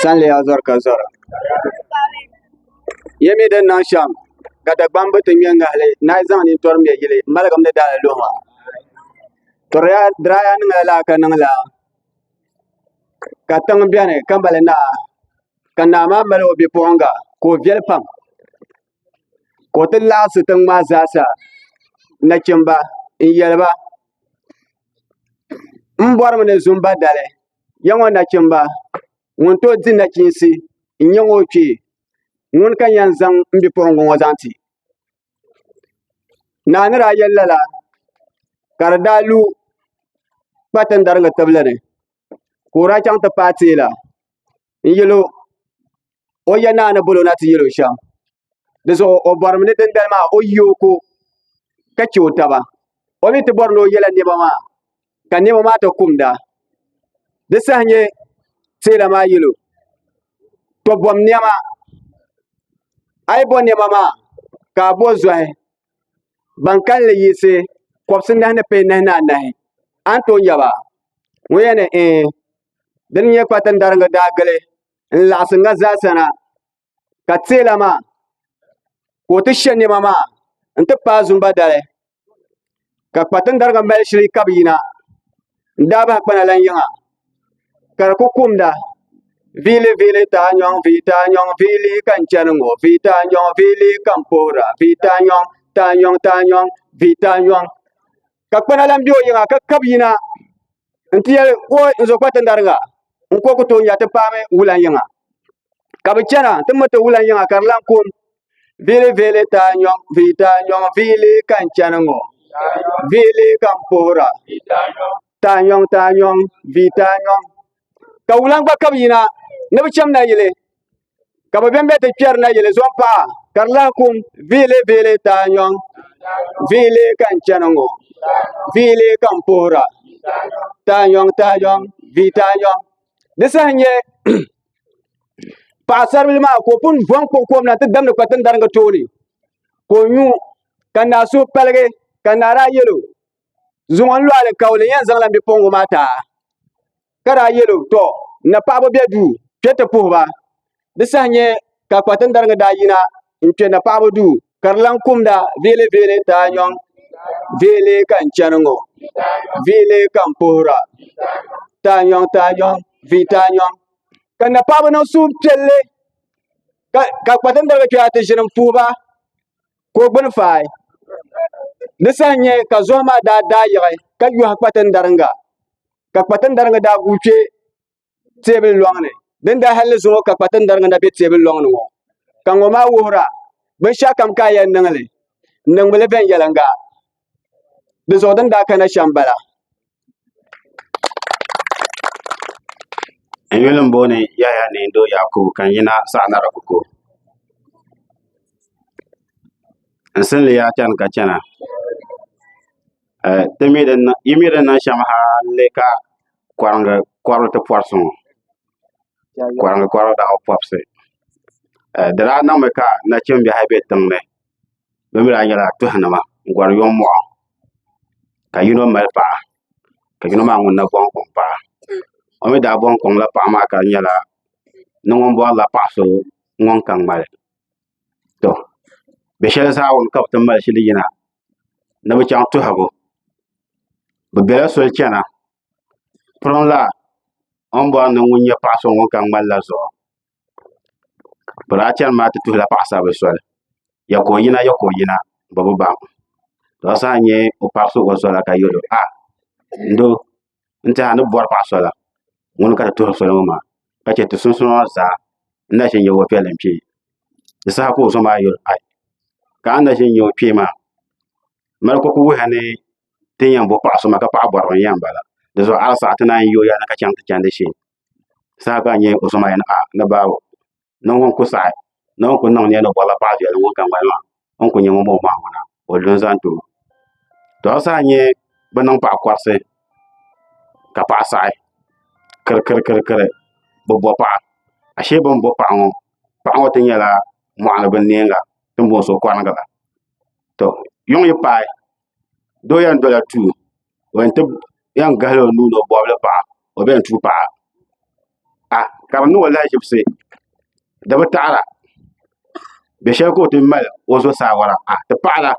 San leya zɔri ka zɔra ya mi din niŋ shɛm ka Dagbaŋ bi ti ŋmɛ ŋahali ni a yi zaŋ nintɔri ŋmɛ yili maligim ni daala luhi maa tɔriya diraya niŋla lala ka niŋla ka tiŋ biɛni ka mali naa ka naa maa mali o bipuɣunga ka o viɛli pam ka o ti laɣasi tiŋ maa zaa sa nachimba n yɛliba m bɔri mi ni zumba dali ya ŋɔ nachimba ŋun tooi di nachiinsi n nyɛ ŋɔ kpee ŋuni ka yɛn zaŋ m bipuɣiŋga ŋɔ zaŋ ti naa ni daa yɛli lala ka di daa lu kpatindariga tibili ni ka o daa chaŋ ti paai teela n yɛl o ya naa ni bol o na ti yɛl o shɛm di zuɣu o bɔrimi ni dindali maa o yi o ko ka chɛ o taba o mi ti bɔri ni o yɛla nɛma maa ka nɛma maa ti kumda di saha nyɛ teela maa yɛl o to bɔm nɛma a yi bɔ nɛma maa ka a bɔ zɔhi ban kalinli yiɣisi kɔbisi nahi ni pee nahi ni anahi a ni tooi nya ba ŋun yɛn ni ɛɛ din nyɛ kpatin dariga daa gili n laɣasi ŋa zaa sa na ka teela maa ka o ti shɛ niɛma maa n ti paai zumba dali ka kpatin dariga mali shili ka bi yina n daa bahi kpana lan yiŋa ka di ku kumda Vili vili ta nyɔŋ vi ta nyɔŋ vili ka n chɛni ŋɔ vi ta nyɔŋ vili ka n puhura vi ta nyɔŋ ta nyɔŋ ta nyɔŋ vi ta nyɔŋ ka kpana lan be o yiŋa ka kab yina n-ti yɛli ka o n-zo kpa ti ndariŋa n-ka o ku tooi nya ti paami wulan yiŋa. Ka bɛ chana ti mi ti wulan yiŋa ka di lan kum. Viili viili taa nyɔŋ, vii taa nyɔŋ, viili ka n chani ŋɔ, viili ka n puhira, taa nyɔŋ taa nyɔŋ, vii taa nyɔŋ. Ka wulan gba kab yina ni bɛ cham nayili. ka bi bɛnbɛ ti kpɛri na yili zɔn paɣa ka di lahi kum viili viili taa nyɔŋ viili ka n chɛni ŋɔ viili ka n puhura taa nyɔŋ taa nyɔŋ vii taa nyɔŋ di saha nyɛ paɣasaribili maa ka o pun bɔn kpuɣi kom na ti damdi kpa tin daringi tooni ka o nyu ka naa so paligi ka naa daa yɛlo zuŋɔ n lɔɣili ka o ni yɛn zaŋla bipuɣingu maa taa ka daa yɛlo tɔ n na paɣaba bɛ duu kpɛ ti puhi ba di saha nyɛ ka kpatindariŋa daa yina n kpɛ na paɣaba duu ka di lan kumda veele veele taa nyɔŋ veele ka n chɛni ŋɔ veele ka n puhira taa nyɔŋ taa nyɔŋ vii taa nyɔŋ ka na paɣaba niŋ suhupiɛlli ka ka kpatindariŋa kpɛ ti ʒini n puhi ba ka o gbuni faai di saha nyɛ ka zuɣu maa daa daa yiɣi ka yɔhi kpatindariŋa ka kpatindari ŋɔ daa guui kpɛ teebuli loŋni din daa halli zuŋɔ ka kpatindari ŋɔ na bɛ teebuli loŋni ŋɔ ka ŋɔ maa wuhura binshaɣu kam ka a yɛn niŋli n niŋmili viɛnyɛlinga di zuɣu din daa kana shɛm bala n yuli n booni yaya ni n doo yakubu ka n yina saɣa nara kuko n sinli yaa chɛni ka chɛna Eh, ti mi din na- yi mi din niŋ shɛm ha n-li ka kɔringi kɔrili ti pɔri so ŋɔ. Kɔringi kɔrili daa bi pɔbisi. Eh, di daa niŋmi ka nachimbihi ayi be tiŋ ni. Bɛ mi daa nyɛla tuhinima n-gɔri yomɔɣu ka yino mali paɣa ka yino maa ŋun na bɔŋ kɔŋ paɣa. O mi daa bɔŋ kɔŋla paɣa maa ka di nyɛla ni ŋun bɔrila paɣ so ŋun ka ŋmali. To, bɛ shɛli Zaawuni ka bɛ ti mali shili yina ni bi chaŋ tuhibu bi biɛla soli chɛna piriŋ la o ni bori ni ŋun nyɛ paɣa so ŋun ka ŋmani la zuɣu bi daa chɛni maa ti tuhula paɣasari bili soli yɛ ka o yina yɛ ka o yina bi bi baŋ ka di saha nyɛ o pari so o zuɣu la ka yɛlo a n doo n tiɛha ni bɔri paɣa sola ŋuni ka ti tuhiri soli ŋɔ maa ka chɛ ti sunsuuni maa zaa n na ʒini nyɛ o piɛlli n kpɛ di saha ka o zuɣu maa yuli ai ka a ni na ʒini nyɛ o kpee maa mali ka ku wuhi ni ti ni yɛn bo paɣa so maa ka paɣa bɔriba n yɛn bala di zuɣu a ni saɣi ti naan yooi a ni ka chaŋ ti chandi shee saha ka a nyɛ o zuɣu maa yɛn a ni baabo niŋ ŋun ku saɣi ni o ni ku niŋ nyɛ ni bɔrila paɣa viɛlli ŋun gaŋgbani maa o ni ku nyɛ ŋun bɔŋɔ maa ŋuna o lu n-zaŋ ti o to a saha nyɛ bɛ niŋ paɣa kɔrisi ka paɣa saɣi kirikirikiri bɛ bo paɣa ashee bɛ ni bo paɣa ŋɔ paɣa ŋɔ ti nyɛla mɔɣuni binniɛŋa din booni so kɔhimma to yuŋ yi paai doo yɛn dola tuuli o yɛn ti yɛn gahila o nuuni o bobli paɣa o bɛn tuui paɣa a ka bi niŋ o lahaʒibisi di bi taɣara bɛ shɛli ka o ti mali o zuɣu saa wara a ti paɣara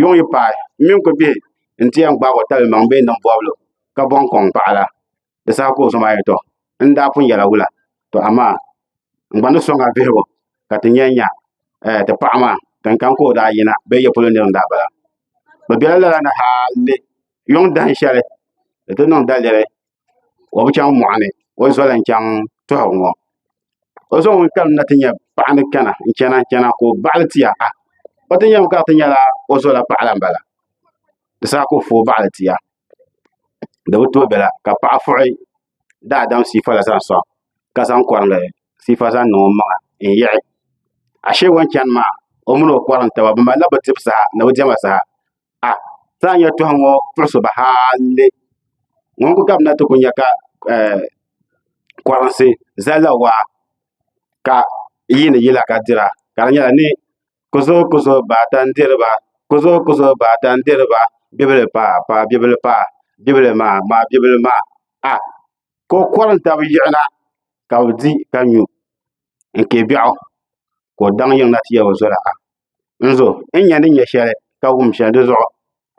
yuŋ yi paai n mini kubihi n ti yɛn gbaagi o tabili maŋ bee niŋ bobli ka bɔŋ kɔŋ paɣara di saha ka o zaŋ maa yɛli tɔ n ni daa pun yɛla wula tɔ amaa n gba ni sɔŋ a vihigu ka ti nya nya eh, ti paɣa maa kan kan ka o daa yina bee ya polo nir n daa bala. Bɛ bela lala ni hali yɔŋ dahin shɛli di ti niŋ daliri o bi chaŋ mɔɣu ni o zoli n chaŋ tɔhigu ŋɔ. O zaŋ ŋun kalim na ti nya paɣa ni kana n chana n chana ka o baɣili tia ah o ti nyam ka ti nyɛla o zola paɣala m bala di saha ka o foo baɣili tia di bi tooi bela ka paɣa fuɣi daadam siifa la zaŋ sɔŋ ka zaŋ kɔrinli siifa zaŋ niŋ o maŋa n-yiɣi ashee o ni chani maa o mini o kɔrim taba bɛ malila bɛ dibu saha ni bɛ diɛma saha a ti lahi nya tɔha ŋɔ puɣ' so ba haalli ŋuni kuli gabimina ti kuli nya ka ɛɛh kɔrinsi zalila waa ka yiini yila ka dira ka di nyɛla ni kuzo kuzo baata n diriba kuzo kuzo baata n diriba bibili paai paai bibili paai bibili maa maai bibili maa a ka o kori n tabi yiɣi na ka bi di ka nyu n kɛ biɛɣu ka o daŋ yiŋ na ti yɛli o zoya ha n zo n ni nyɛ shɛli ka wum shɛli dizuɣu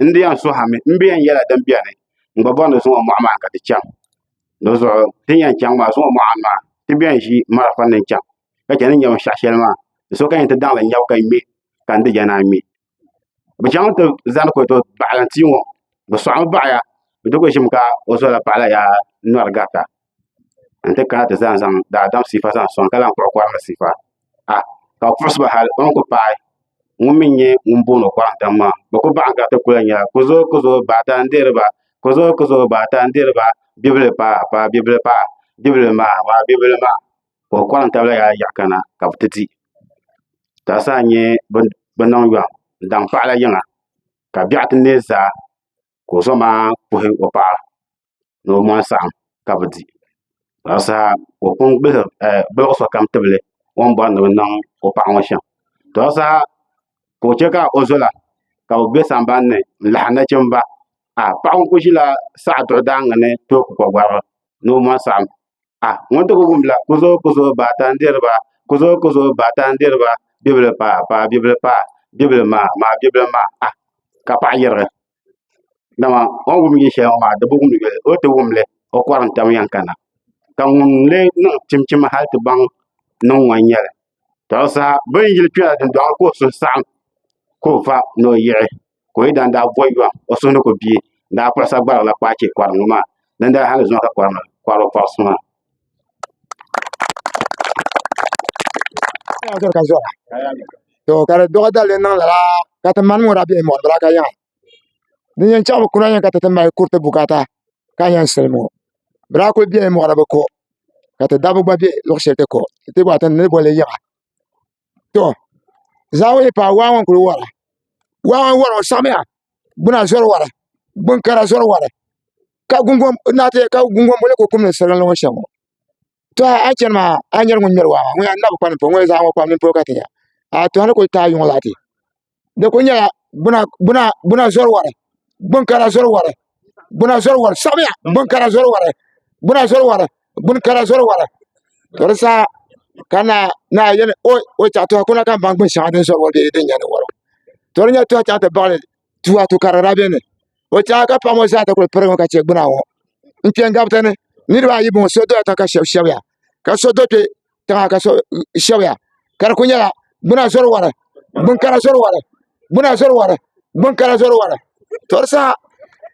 n di yɛn suhami n bɛ yɛn yɛla din biɛni n gba bɔri ni zuŋɔ mɔɣu maa ka ti chaŋ di zuɣu ti ni yɛn chaŋ maa zuŋɔ mɔɣu maa ti bɛn ʒi marafa ni chaŋ ka chɛ ni nyɛ binshaɣu shɛli maa di so ka yɛn ti daŋli nyɛbu ka ŋmɛ ka n di jɛna n ŋmɛ bi chaŋ ti zani ko to baɣalim tia ŋɔ bi sɔɣami baɣaya bi di ko ʒimi ka o zuɣula paɣala yaa nɔri garita n ti kana ti zaa zaŋ daadam sifa zaŋ soŋ ka lahi kpuɣi kɔrimi sifa a ka bi puɣisi ba hali o ni kuli paai ŋun mi nyɛ ŋun booni o kɔrim dam maa bi kuli baɣa gariti kuliyan yɛra ku zooi ku zooi baa ata n dihiri ba ku zooi ku zooi baa ata n dihiri ba bibili paai paai bibili paai bibili maa maa bibili maa ka o kɔrim tabila yaɣa yaɣa kana ka bi ti di ka di saa nyɛ bi niŋ yɔɣu n daŋ paɣa la yiŋa ka biɛɣu ti neei zaa. ka o zoma kpuɣi o paɣa ni o mɔri saɣim ka bɛ di ka di saha ka o pun gbuɣ sokam tibili o ni bɔri ni bɛ niŋ o paɣa ŋɔ shɛm ka di saha ka o chɛ ka o zola ka bɛ be samban ni n-lahi nachimba a paɣa ŋɔ kuli ʒila saɣ' duɣidaaŋa ni tooi ku kɔgɔriba ni o mɔri saɣim ah ŋɔ n ti ku wumla ku zooi ku zooi baata n diri ba ku zooi ku zooi baata n diri ba bibili paai paai bibili paai bibili maai maai bibili maai ah ka paɣa yirigi dama o ni wum yi shɛli ŋɔ maa di bi wumdi yoli o ni ti wumli o kɔri n tam yɛn kana ka ŋun lee niŋ chimchim hali ti baŋ niŋ ŋɔ n nyɛli tɔbu saha bin yili kpɛla dundɔŋ ni ka o suhu saɣam ka o va ni o yiɣi ka o yidana daa bɔyi yɔɣu o suhu ni ku bie daa kpuɣi sagbarigu la kpaai chɛ kɔrim ŋɔ maa din daa hali zuŋɔ ka kɔrim la kɔri o kɔrisi maa. Kaya zɔri ka zɔra to ka di dɔɣi dalili niŋ lala ka ti mani mɔra bihi mɔri bila ka yaŋa din yɛn chaɣi bi kuna yɛn ka ti ti mali kuriti bukata ka yɛn silim ŋɔ bila kuli bɛni mɔri bi ko ka ti dabba gba bɛ luɣi shɛli ti ko ti gba ti ni boli yiŋa. to zaawuli yi paai waa ŋɔ n kuli wara waa ŋɔ wara o saɣimiya gbuna zori wara gbuŋ kara zori wara ka gungoŋ boli ku kumdi salo ŋɔ shɛm ŋɔ to a yi chani maa a ni nyari ŋun ŋmɛri waa maa ŋɔ yaa n nabi kpa ni polo ŋɔ yaa zaɣa ŋɔ pam mini polo ka ti nya a tooi a ni kuli taagi yuŋ laati. di ku nyɛla gbuna zɔri wari gbunkara zɔri wari gbuna zɔri wari sabiya gbunkara zɔri wari gbuna zɔri wari gbunkara zɔri wari ka di sa ka naa yɛli o chaŋ ti kuna ka n baŋ gbuni shɛŋa din zɔri wari bee din nyɛ din wara to di nyɛla ti yɛn chaŋ ti baɣali tua to ka di daa bɛ ni o chaŋ ka paɣa ŋɔ zaa ti kuli pirigi mi ka chɛ gbuna ŋɔ n kpɛ n gabi tani niraba ayi n bɔŋɔ so dola tiŋ ka shab shɛbiya ka so do kpɛ tiŋa ka shɛbiya ka di ku nyɛla gbuna zɔri wari gbunkara zɔri wari gbuna zɔri wari gbunkara zɔri wari to di saha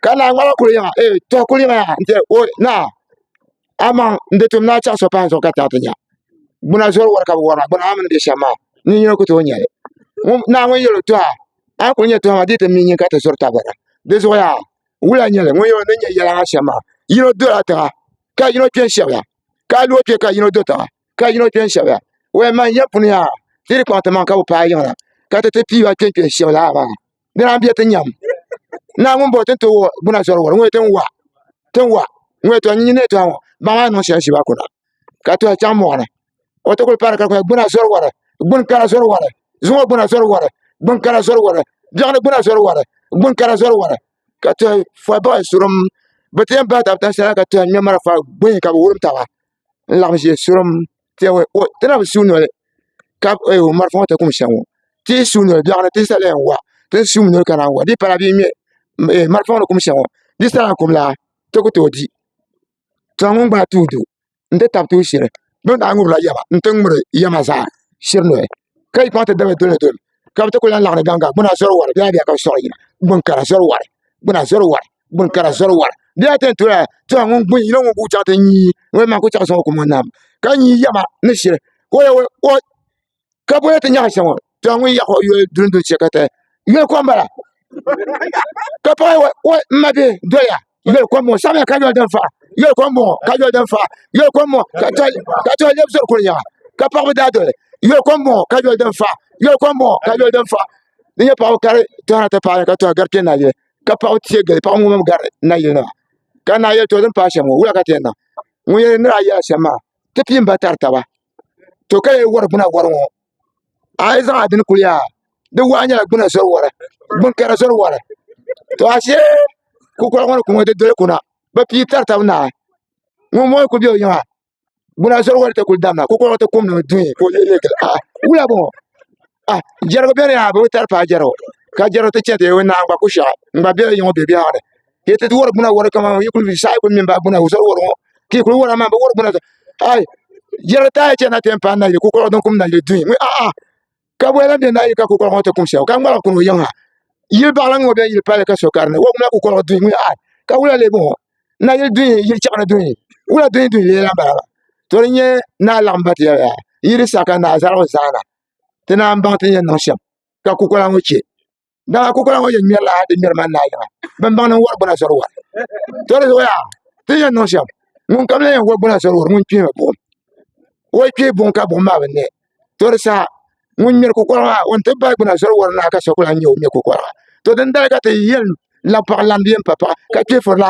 ka naa ŋɔ lahi kuli yiŋa ee tɔha kuli yiŋa yaha n-ti o naa amaŋ n-di tum ni a chaŋ so pahi n zuɣu ka ti a ti nya gbuna zɔri wari ka bɛ wari maa gbuna maa mi ni be shɛm maa nin yino ku tooi nya li naa ŋɔ yɛl o tɔha a ni kuli nya tɔha maa di yi ti me nyin ka ti zɔri tabili di zuɣu yaha wula n-nyɛ li ŋun yɛl o ni nya yɛla maa shɛm maa yino dola tiŋa ka yino kpe n-shɛbiya ka a lihi o kpɛ ka yino do tiŋa ka yino kpɛ n shɛbiya wee man ya puni yaa di di kpaŋ ti maŋ ka bi paai yiŋa ka ti ti piiba kpɛ n kpɛ shɛbi laa maa di naan bɛ ti nyam naa ŋun bɔri tin ti wɔ gbuna zɔri wɔri ŋɔ tin wa tin wa ŋɔ to n nyini to ŋɔ ba maa niŋ shɛli shiba kuna ka to chaŋ mɔɣuni o ti kuli pari ka kuli gbuna zɔri wɔri gbuni kara zɔri wɔri zuŋɔ gbuna zɔri wɔri gbuni kara zɔri wɔri biɛɣuni gbuna zɔri wɔri gbuni kara zɔri wɔri ka tuhi fori bahi surum bi ti yɛn bahi tabi tan shɛli la ka tuhi ŋmɛ marafa gbunni ka bi wurim taba n laɣam ʒɛ surum ti na bi su noli marafa ŋo tikum shɛm ŋo ti yi su noli biɛɣuni ti sala yɛn wa ti ni suu mi noli kana n wa di yi pala bee ŋmɛ marafa ŋo ni kum shɛm ŋo di yi sa lana kum la ti ku tooi di n ti tab tuun shɛli bi ni daa ŋubirila yaba n ti ŋmuri yɛma zaa shiri noli ka yi paŋ ti dabili doli doli ka bi ti ku lahi laɣam gaŋga gbuna zɔri wari bee a diɛka bi siɣiri yina gbuni kara zɔri wari gbuna zɔri wari gbuni kara zɔri wari bee a ti yɛn tola tola ŋun gbuni yino ŋun guui chaŋ ti nyii ŋun maa ku chaŋ soŋ o ku mɔni naam ka nyii yɛma ni shiri ka o yɛn ka bɔna ti nyaɣa shɛŋa to a ŋun yaɣa o yoli duli duli chɛ ka taya yoli kom bala ka paɣa wa n ma bɛ doya yoli kom ŋɔ sabila ka yoli din faɣa yoli kom bɔŋɔ ka yoli din faɣa yoli kom ŋɔ ka to lɛbi zoli kuli nyaɣa ka paɣa bi daa doli yoli kom bɔŋɔ ka yoli din faɣa yoli kom bɔŋɔ ka yoli din faɣa di nyɛ paɣa kari tɔhana ti paɣa ka tɔha gari kpɛ na yili ka paɣa tiɛ gili paɣa ŋɔ mami gari na yili nima ka naa yɛli to din paɣa shɛm ŋɔ wula ka ti yɛn niŋ ŋun yɛli ni daa yɛla shɛm maa ti pii n ba tari taba to ka yi wari gbuna wari ŋɔ a yi zaŋ adini kuli yaa di wahi nyɛla gbuna zori wari gbuni kara zori wari to ashe kukoli ŋɔ ni ku ŋɔ di doli kuna bi pii tari tabi naa ŋun ŋɔ ku bɛ o yiŋa gbuna zori wari ti kuli damina kukoli ŋɔ ti kum ni o duhi ka o leei leei gili a wula bɔŋɔ a jɛrigu bɛni yaa bi bi tari paai jɛrigu ka jɛrigu ti chɛ ti o ni naanyi gba ku shɛɣu n gba bɛ o yiŋa o bɛ biɛhaɣu ni ka yi ti wari gbuna wari kama yi kuli saɣi kuli mini ba gbuna o zali wari ŋɔ ka yi kuli wari amaa bi wari gbuna ai yɛli taai chɛ na ti yɛn paai nayili kukɔɣu din kum nayili duhi ŋɔ a'a ka bɔya lan bɛ nayili ka kukɔɣu ŋɔ ti kum shɛm ka ŋmaligi kuni o yiŋ ha yili baɣali ŋɔ bɛn yili pali ka so karini wari gbuna kukɔɣu duhi ŋɔ ai ka wula leebu ŋɔ nayili duhi yili chɛɣani duhi wula duhi duhi leela n bala to di nyɛ naa laɣam ba ti yɛli yaa yili sa ka naa zaligu zaana ti naan baŋ ti ni yɛn niŋ shɛm ka kukɔla ŋɔ chɛ Dala kokola ŋɔ yɛn ŋmɛrila di ŋmɛri man laa yiŋa bin baŋ ni n wari gbuna sori wari to di zuɣuya ti yɛn niŋ shɛm ŋun kam la yɛn wari gbuna sori wari ŋun kpihimi buɣum o yi kpihi buɣum ka buɣum maa bi ne to di saha ŋun ŋmɛri kokola maa o ni ti bahi gbuna sori wari naa ka so ku lahi nyɛ o ŋmɛ kokola maa to din dali ka ti yɛn labi paɣa lamdi yɛn pa paɣa ka kpihifurila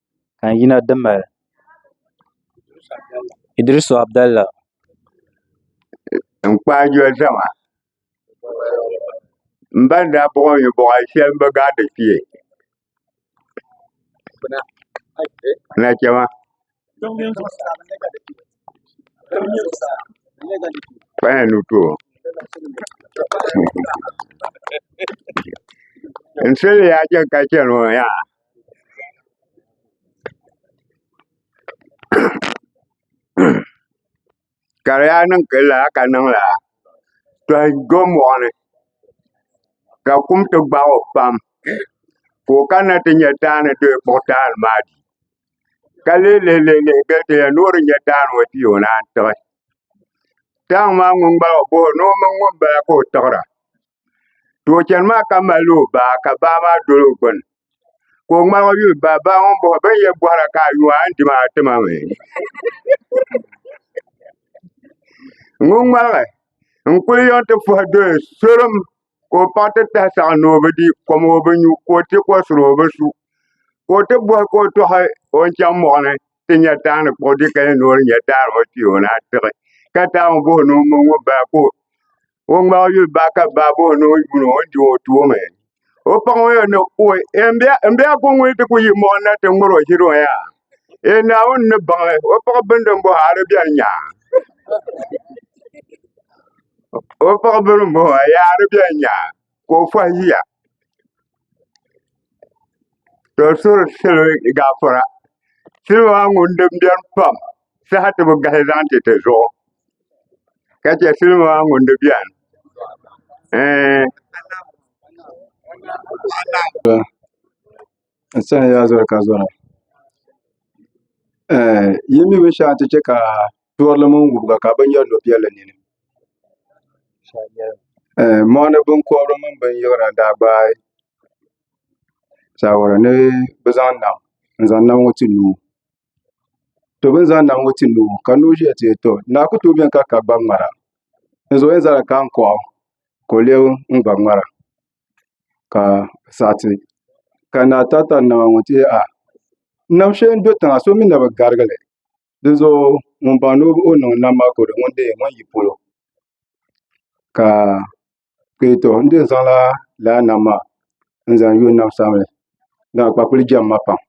ka n yina di mali Iddrisu Abdallah n kpaai doli zama n ba ni daa buɣi mi buɣa shɛli n bi gaa di kpee na chɛma kpaya ni to n sili yaa chɛ ka chɛni o yaa Ka di yaa niŋ ka lala ka niŋ lala to n do moɣani ka kum ti gbaag o pam ka o kanna ti nyɛ daani ti yɛn kpuɣi daani maa di ka lihi lihi lihi gili ti yɛli ni o di nyɛ daani ŋo ti yi o naan tiɣi daangi maa ŋun gbaag o boho ni o mini ŋunbala ka o tiɣira to o chɛni maa ka mali o baa ka baa maa doli o gbuni ka o ŋmaligi yuli baa baa ŋun bɔhi bin yɛ bɔhira ka a yuwa a ni di maa ti ma mi ŋun ŋmaligi n kuli yɔn ti fɔhi doli sorim ka o paɣa ti tahi saɣa ni o bi di kom o bi nyu ka o ti kɔsiri o bi su ka o ti bɔhi ka o tɔhi o ni chaŋ mɔɣuni ti nya daani kpuɣi di ka yɛn noori nya daani o kpee o ni a tiɣi ka daa ŋun bohi ni o mini ŋun bala ka o ŋmaai o yuli baa ka baa bohi ni o yuuni o ni di o tuumi o paŋ o yɛn ni o n bɛ a ko ŋuni ti ku yi mɔɣu na ti ŋmari o ʒiri o ya e naawuni ni baŋli o paɣa bindi n bohi a di biɛni nya o paɣa bini n bohi a yaa di biɛni nya ka o fɔhi ʒiya ka o suhiri salo gaafara salo maa ŋun dini biɛni pam saha ti bi gahi zaŋ ti ti zuɣu ka chɛ salo maa ŋun di biɛni ɛɛh n sani yaa zoli ka zora yi mi binshɛɣu n ti chɛ ka Duɣirili mini wubiga ka bɛ nyɛri lobiɛlli nini. Mɔɣini biŋkɔbiri mini binyɛra daa gbaai saawara ni bɛ zaŋ nam n-zaŋ nam ŋɔ ti nuu. To bɛ ni zaŋ nam ŋɔ ti nuu ŋɔ ka noo ʒiya teei tɔ naa ku tooi beni ka ka gba ŋmara. Dinzuɣu o yɛn zala ka n-kuɣa o ka o lebi n-gba ŋmara ka saɣi ti ka naa tari tari nama ŋɔ ti yɛli aa! Nam shɛli n-do tiŋa so mi na bi garigi li. Dinzuɣu ŋun baŋ ni o niŋ nam maa ka o di ŋun dee ŋun yi polo ka n dee zaŋla laa nam maa n zaŋ yo n nam sabinli dama kpakpa kuli jɛm ma pam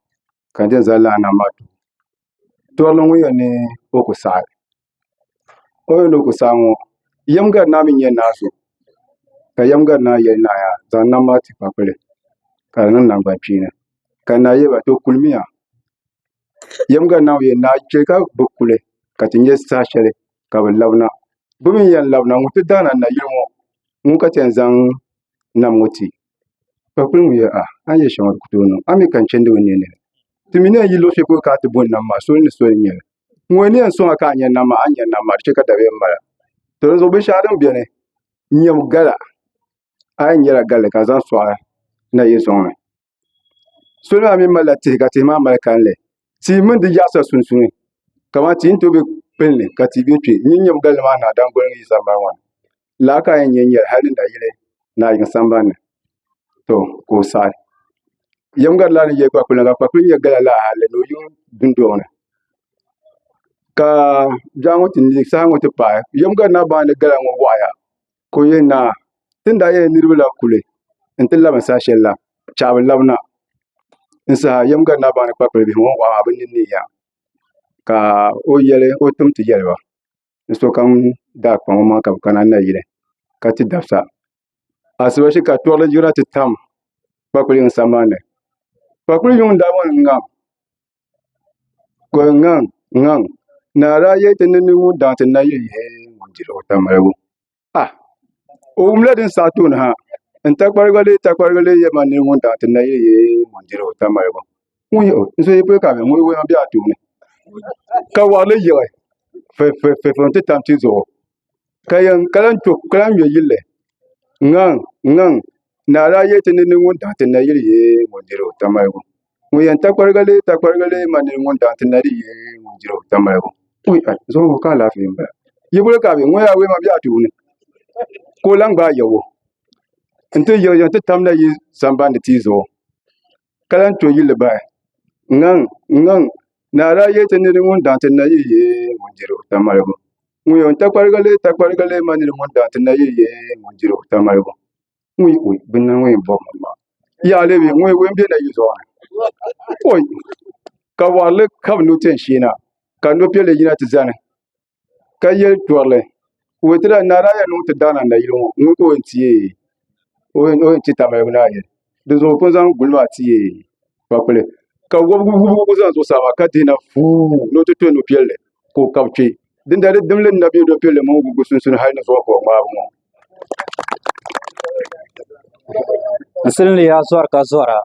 ka n dee zali laa nam maa too torili ŋun yɛn ni o ku saɣi o ni yɛn ni o ku saɣi ŋo yɛm gari naa mii n nyɛ naa so ka yɛm gari naa yɛli naa yaa zaŋ nam maa ti kpakpuli ka di niŋ nangbani kpeeni ka naa yɛli ba to kulimiya Yiŋga na o yɛn daa chɛ ka bi kuli ka ti nyɛ saha shɛli ka bi labina. Bɛ mi ni yɛn labina ŋɔ, ti daana nayili ŋɔ ŋun ka ti yɛn zaŋ nam ŋɔ ti, ka kul ŋun yɛli, Aah! A ni yɛ shɛŋa di ku tooi niŋ. A mi ka n chandi n nini? Ti mi ni yɛn yi luɣ shɛli polo ka a ti bɔn nam maa, soli ni soli n-nyɛ li. Ŋun yɛn ni yɛn sɔŋ a ka a nya nam maa, a ni nya nam maa, di chɛ ka dabiɛm mal a. To dinzuɣu binshɛŋa din beni n-nyɛ gala. A yɛn nyala galli ka zaŋ sɔɣi nayili sɔŋ ni. salo maa mii malila tihi ka tihi maa mali kanli tia mini di yaɣasa sunsuuni kamani tia ni tooi bɛ kpulli ka tia bɛ kpɛ n yi nyɛ gbanli maa daadam goli n yi zaŋ mali maa laa ka a yɛn nyɛ n nyɛli hali ni nayili naa yiŋ sambanni to ka o saɣi yɛm gari laa ni yɛ kpakpuli ŋɔ ka kpakpuli nyɛ gala laa hali ni o yiŋ dundoŋ ni ka saha ŋɔ ti paai yɛm gari naa baŋ ni gala ŋɔ waɣaya ka o yɛn naai ti ni daa yɛli niraba la kuli n ti labina saha shɛli la chɛli a bi labina n saha yɛm gari naa baŋ ni kpakpali bihi ŋɔ bi ni neei yaha ka o yɛli o tim ti yɛli ba ni sokam daa kpaŋ o maŋa ka bi kana nayili ka ti dabisa asiba shee ka tɔɣili yirina ti tam kpakpali yiŋa sambani kpakpali yiŋa n daa bɔŋɔ ni ŋa Ko n ŋaŋ n ŋaŋ naa daa yɛli ti ni mini ŋun daŋ ti nayiɣi yɛli ŋun diri o tamaligu a o wumla din saɣi tooni ha n takparigu lee takparigu lee yɛlima n nini ŋun daŋ ti nayiɣi yɛli ŋun diri o tamaligu ŋun yɛ o n so yi pili ka ŋun wuhi a bɛ a tooni ka wari li yiɣi fɛfɛfɛ n ti tam ti zuɣu ka lahi ŋmɛ yilli ŋaŋ ŋaŋ naa daa yɛli ti ni niŋ ŋun daɣa ti nayili yee ŋun diri o ta maligu ŋun yɛn takparigi lee takparigi lee ma ni niŋ ŋun daɣa ti nayili yee ŋun diri o ta maligu zuɣu ŋɔ ka alaafee n bala yili bolo ka a bɛ ŋɔ yaa awɛma bɛ a tooni ka o lahi gbaai yawo n ti yiɣi yiɣi n ti tam nayili sambani tia zuɣu ka lahi to yili bahi ŋaŋ ŋaŋ naa daa yɛli ti ni di ŋuni daŋ ti nayiyi ŋuni diri o tamaligu ŋɔ yɛn takpariga lee takpariga lee ma ni di ŋuni daŋ ti nayiyi ŋuni diri o tamaligu wuyi wuyi bi ni ŋɔ yɛn bɔbi mi maa yaha a lihi ŋɔ wuyi n bɛ nayiyi zuɣu ni wuyi ka wɔrili ka bi ni ti yɛn sheei na ka nɔbiɛli yina ti zani. ka yɛ tɔrili ka o yetɔ lala naa daa yɛn niŋ o ti daana n na yili ŋɔ n ŋɔ ka o yɛn ti yee o yɛn ti tamaligu naa yɛli di zuɣu o pun zaŋ guli maa ti yee kpakpuli ka wɔbigu wɔbigu kuli za zuɣusaa maa ka dihina fuuu ni o ti tɔ nupiɛlli ka o kabi kpɛ dindali di dimli n na bɛ nupiɛlli mini wɔbigu sunsuuni hali ni zuɣu ka o ŋmaagi ŋɔ. n silinli yaa zɔri ka zɔra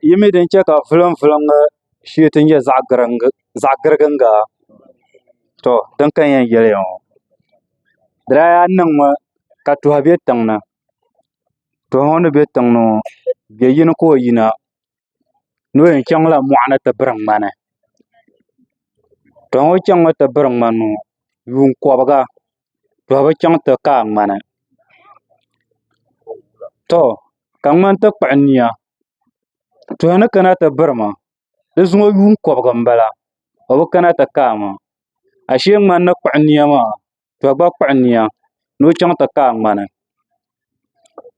yi mi din chɛ ka vulimvulim ŋɔ shee ti ni nyɛ zaɣ giriginga tɔ din ka n yɛn yɛli ya ŋɔ di daa yaa niŋmi ka tuhi bɛ tiŋ ni tuhi ŋɔ ni bɛ tiŋ ni ŋɔ bɛ yini ka o yina ni o yɛn chaŋla mɔɣuni ti biri ŋmani tuhi ŋɔ chaŋmi ti biri ŋmani ŋɔ yuun kɔbiga to bi chɛŋ ti kaai ŋmani to ka ŋmani ti kpuɣi niya tuhi ni kana ti birima di zuŋɔ yuun kobigi n bala o bi kana ti kaai maa ashee ŋmani ni kpuɣi niya maa to gba kpuɣi niya ni o chɛŋ ti kaai ŋmani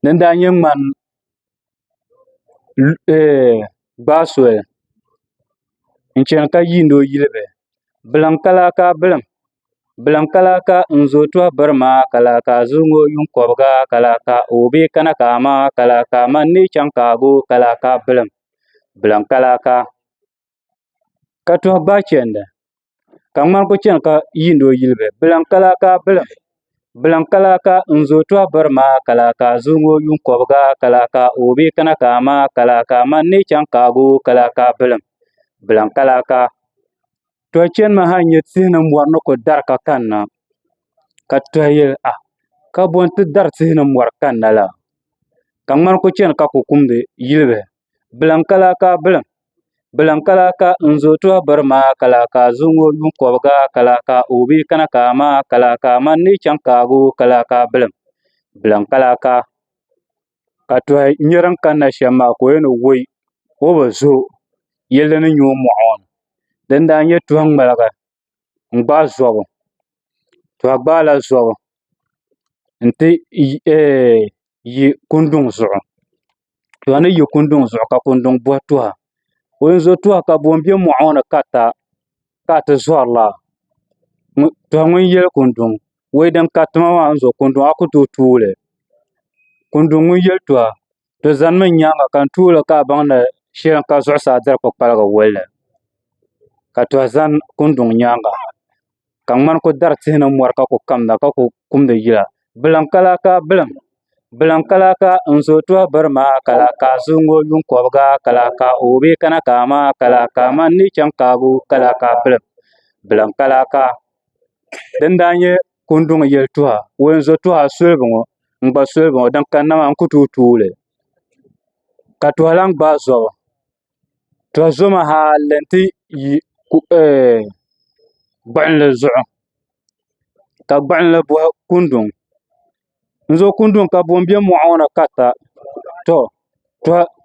din daa nyɛ ŋmani gbaai soli n chɛna ka yiindi o yili bihi bilim ka lahi ka bilim bilim ka lahi ka n zooi tuha biri maa ka lahi ka a zo ŋɔ yuŋ kobga ka lahi ka a ɔbee kana ka ama ka lahi ka a ma n ni yi chaŋ ka a goo ka lahi ka bilim bilim ka lahi ka ka tuhi bahi chɛndi ka ŋmani ku chɛni ka yiindi o yuli bee biliŋ ka lahi ka biliŋ biliŋ ka lahi ka n zooi tuhi biri maa ka lahi ka a zoogi o yuun kobga ka lahi ka o bi kana ka a maai ka lahi ka a ma n ni yi chɛŋ kaagi o ka lahi ka biliŋ biliŋ ka lahi ka tuhi chɛni maa ha n nyɛ tihi ni mori ni ku dari ka kanna ka tuhi yɛli a ka bo n ti dari tihi ni mori kanna la ka ŋmani ku chɛni ka ku kumdi yuli bee Bilim ka lahi ka bilim bilim ka lahi ka n zooi tɔbu biri maa ka lahi ka a zaŋ o yuun kɔbiga ka lahi ka o bɛ kana ka amaa ka lahi ka a ma n ni chaŋ kaago ka lahi ka bilim bilim ka lahi ka ka tɔha nyɛ din kanna shɛm maa ka o yɛn ni wuoi o bi zo yili din nyɛ o mɔɣu ŋɔ din daa nyɛ tɔha ŋmaliga n gbaai zɔbu to a gbaala zɔbu n ti yi kunduŋ zuɣu to ni yi kunduŋ zuɣu ka kunduŋ bɔhi to ha o ni zo to ha ka boŋ bɛ moɣu ŋɔ ni karita ka a ti zɔrila to ŋun yɛli kunduŋ o yidana ka ti ma maa ni zo kunduŋ a ku tooi tuuli kunduŋ ŋun yɛli to ha di ʒɛnimi n nyaanga ka n tuuli ka a baŋ ni shɛli n ka zuɣusaa diri kpukpaligi wolli ka toha ʒɛ kundɔŋ nyaanga ka ŋmani ku dari tihi ni mori ka ku kamda ka ku kumdi yila biliŋ ka lahi ka biliŋ biliŋ ka lahi ka n zooi tooi biri maa ka lahi ka a zaŋ o yuŋ kobga ka lahi ka o bee kana ka amaa ka lahi ka a ma n ni chɛŋ kaabu ka lahi ka a biliŋ biliŋ ka lahi ka din daa nyɛ Kunduni yeltɔɣa wulinzɔtɔɣa solibu ŋɔ n gba solibu ŋɔ din kanna maa n ku tooi tuuli ka tɔha lahi gbaai zɔbu tɔha zɔmi ha n lan ti yi gbuɣinli zuɣu ka gbuɣinli bɔhi kunduni. n zo kundi ŋɔ ka buɣum bɛ moɣu ŋɔ ni ka sa to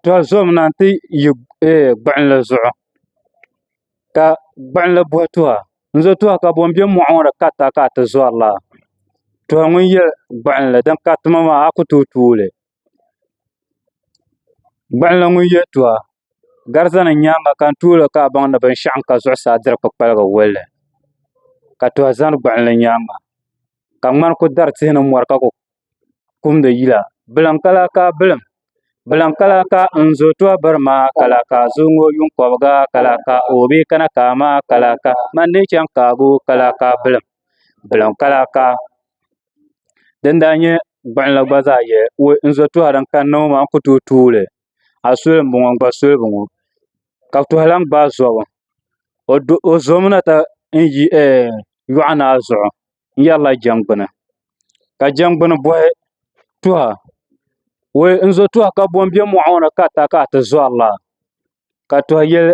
to zomi na n ti yi gbuɣinli zuɣu ka gbuɣinli boli tuha n zo tuha ka buɣum bɛ moɣu ŋɔ ni ka sa ka ti zori laa to ŋun yɛ gbuɣinli din ka tuma maa a ku tooi tuuli gbuɣinli ŋun yɛ tuha gari zani n nyaanga ka n tuuli ka a baŋ ni binshaɣu n ka zuɣusaa diri kpukpaligi wolli ka tuha zani gbuɣinli nyaanga ka ŋmani ku dari tihi ni mori ka ku kumdi yila biliŋ ka lahi ka bilim biliŋ ka lahi ka n zo tɔbu biri maa ka lahi ka a zo ŋɔ yuŋ kɔbiga ka lahi ka o bee kana kaai maa ka lahi ka n ma ni lee chaŋ kaabu ka lahi ka bilim biliŋ ka lahi ka din daa nyɛ gbuɣunli gba zaa yɛli n zo tuha din kanna ŋɔ maa n ku tooi tuuli a suli n boŋo n gba suli n boŋo ka bi lahi gbaai zobu o zomi na ti yi yoɣu naa zuɣu n yɛrila jɛngbuni ka jɛngbuni boy tuha woy n zo tuha ka bo n bɛ moɣu ŋo ni ka di ta ka ati zori laa ka tuhi yili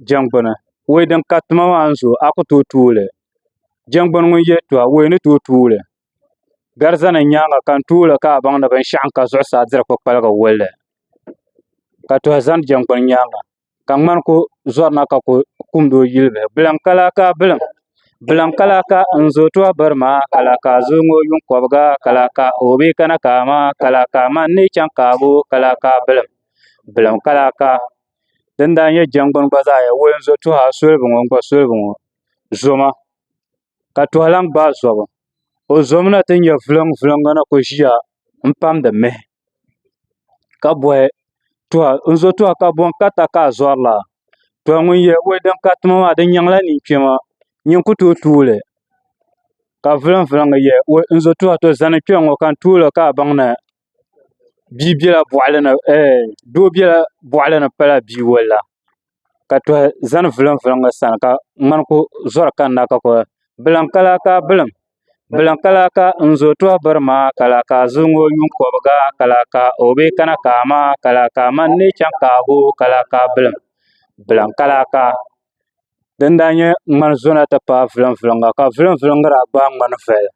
jɛngbuni woy din ka tuma maa n zo a ku tooi tuuli jɛngbuni ŋun yili tuha woy ni tooi tuuli Gariza nim nyaanga ka n tuuli ka a baŋ ni binshaɣu n ka zuɣusaa diri kpukpaligi wolli ka tuhi ʒɛ jɛngbuni nyaanga ka ŋmani ku zorina ka ku kum tooi yuli bihi biliŋ ka lahi ka biliŋ biliŋ ka lahi ka n zooi tɔɣa bari maa ka lahi ka a zooi ŋɔ yuŋ kobga ka lahi ka o bi kana kaai maa ka lahi ka a ma n ni yi chɛŋ kaabu ka lahi ka biliŋ biliŋ ka lahi ka din daa nyɛ jɛngbuni gba zaa n yɛn woli n zo tuha solibi ŋɔ n gba solibi ŋɔ zoma ka toha lahi gbaai zobu o zomi na ti nyɛ viliŋ viliŋ ŋɔ na ku ʒiya n pamdi mihi ka bohi tuha n zo tuha ka boŋ ka ta ka a zorila to ŋun yɛ o liiga ka tuma maa di nyɛŋla ninkpɛma nyin ku tooi tuuli ka viliŋ viliŋ n zo tuha to zani kpɛ n ŋo ka n tuulo ka a baŋ ni Doo biɛla boɣali ni pala bia yoli la ka tohi zani vilim vilim ŋɔ sani ka ŋmani ku zori kanna ka kuli bilim ka laa kaa bilim bilim ka laa kaa n zo tooi biri maa ka laa kaa zuli ŋɔ yuŋ kobga ka laa kaa o bee kana kaa maa ka laa kaa mani n lee chɛŋ kaabu ka laa kaa bilim bilim ka laa kaa din daa nyɛ ŋmani zona ti paai vilim vilim ŋɔ ka vilim vilim ŋɔ daa gbaai ŋmani viɛlli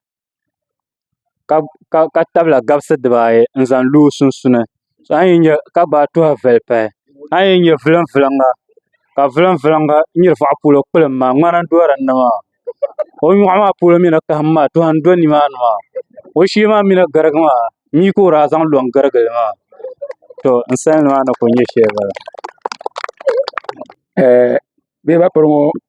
ka tabila gabisi dibaayi n zaŋ lo o sunsuuni ka gbaai tuha vuli pahi a yi nyɛ vulim vulimga ka vulim vulimga n nyɛ zaɣ polo kpulli maa ŋmana n doya dinni maa o nyoɣu maa polo mii ni kaɣam maa tuha n do nimaani maa o shee maa mii ni garigi maa mii ka o daa zaŋ lo n giligili maa to n salima maa ni ku nyɛ shɛli bala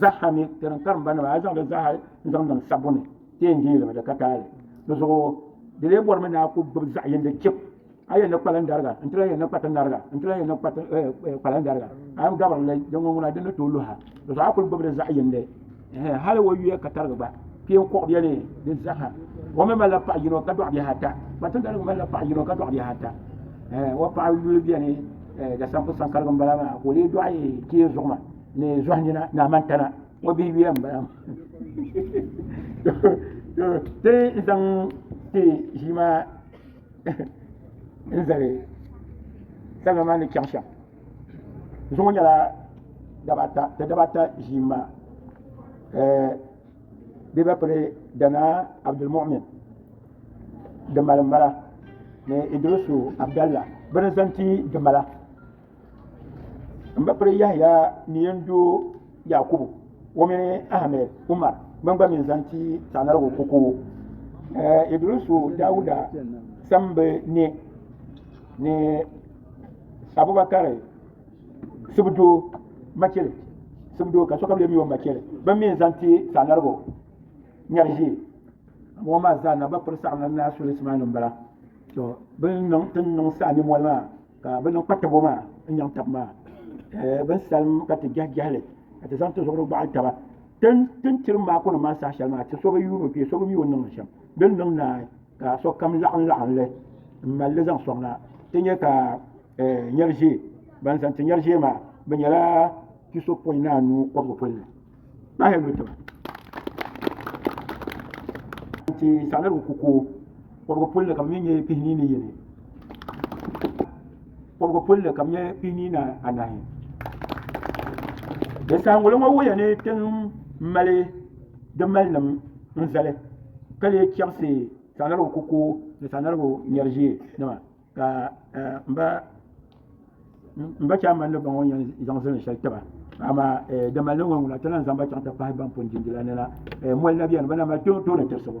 Zaha ni ti din karimba nima a yi zaŋdi zaha n zaŋ niŋ sabbu ni ti yɛn deei li mi di ka taali. Di zuɣu di lee bɔrimi ni a ku gbubi zaɣ yindi chip a yɛn ni kpalim dariga n ti lahi yɛn ni kpati nariga n ti lahi yɛn ni kpalim dariga a yɛn gabirili din ŋun ŋuna din ni tooi luhi a. Di zuɣu a kuli gbubili zaɣ yindi. hali o yuya ka tarigi gba kpɛ n kɔɣu bɛni di zaha o mi malila paɣa yino ka dɔɣi bihi ata kpatindali mi malila paɣa yino ka dɔɣi bihi ata o paɣa yuli bɛni da sanku sankarigi n bala maa ka o lee dɔɣi kpee zuɣu ma ni zɔhi nina ni amantana o bihi yuya n bala maa ti zaŋ ti ʒii maa n zali salima maa ni chaŋ shɛm zuŋɔ nyɛla daba ata ti daba ata ʒii n bala bɛ ba piri danaa Abdul muɣimin dimali m bala ni idirisu abdalla bɛ ni zaŋ ti dimala m ba piri yahaya ni yɛn doo yakubu o mini ahamɛd umaar ban gba mi zaŋ ti sagnarigu kokowo idirisu dawuda sambi ni ni Abubakari sibu doo machili sibu doo ka sokam lɛbi o machili bin mi n zaŋ ti saanarigu nyɛri ʒee ŋɔ maa zaa na ba piri saɣim ni naa suli sima ni n bala to bin niŋ tin niŋ saɣa ni mɔli maa ka bi niŋ kpatabo maa n nyaŋ tabi maa bin salim ka ti jɛhi jɛhili ka ti zaŋ ti zuɣuri gɔɣili taba tin tiri maaku nim maa saha shɛli maa ti so bi yuuni o kpee so bi mi o niŋ shɛm din niŋ naai Ka sokam laɣim laɣim li m mali li zaŋ soŋ na ti nya ka nyɛri ʒee. Ban zaŋ ti nyɛri ʒee maa bɛ nyɛla kpisopɔin ni anu kɔbigu pol ni. Kpahi lu tiba n ti saɣi niriba ku koo kɔbigu pol ni ka bɛ mi nyɛ kpihini ni yini. Kɔbigu pulli ka nyɛ piinii ni anahi. Dasaanguli ŋɔ wuhiya ni ti mali di malinim n-zali ka lee chaɣisi Sagnarigu kuku ni Sagnarigu nyariʒee nima ka m ba Chaamani ni ba ŋɔ yɛn zaŋ zilin shɛli tiba amaa di malinim ŋɔ ŋuna ti lahi zaŋ ba chaŋ ti pahi ban pun di di la ni na mɔli na beni bɛ na mali tooni tirisi bu.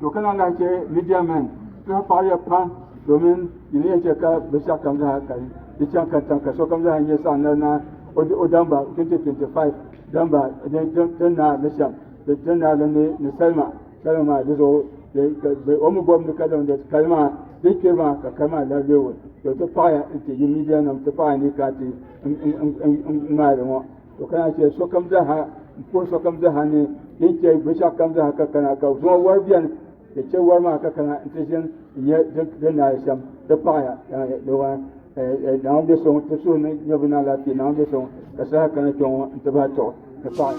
To ka na lahi chɛ Midian mɛn saha paɣiya pam domin yi ni yɛn chɛ ka binshɛɣukam zaa ka di chaŋ katiŋ ka sokam zaa nyɛ saɣ nali na o damba 2025 damba din naa ni shɛm din naa din ni ni salima salima maa di zuɣu o mi bɔbi ni ka damdi kali maa din kpiri maa ka kali maa lahi leei to ti paɣiya n-ti yi Midiannim ti paɣiya ni ka ti ŋmaali ŋɔ to kana n chɛ sokam zaaha n puhi sokam zaaha ni ti ni chɛ binshɛɣu kam zaaha ka kana ka zuŋɔ wari biɛni ti chɛ wari maa ka kana n ti ʒini n nyɛ din naa shɛm ti paɣaya naawuni bɛ so ti suhu ni nyɛ bi ni alaafee naawuni bɛ so ka saha kana kpɛ ŋɔ n ti bahi tɔɣu ti paɣaya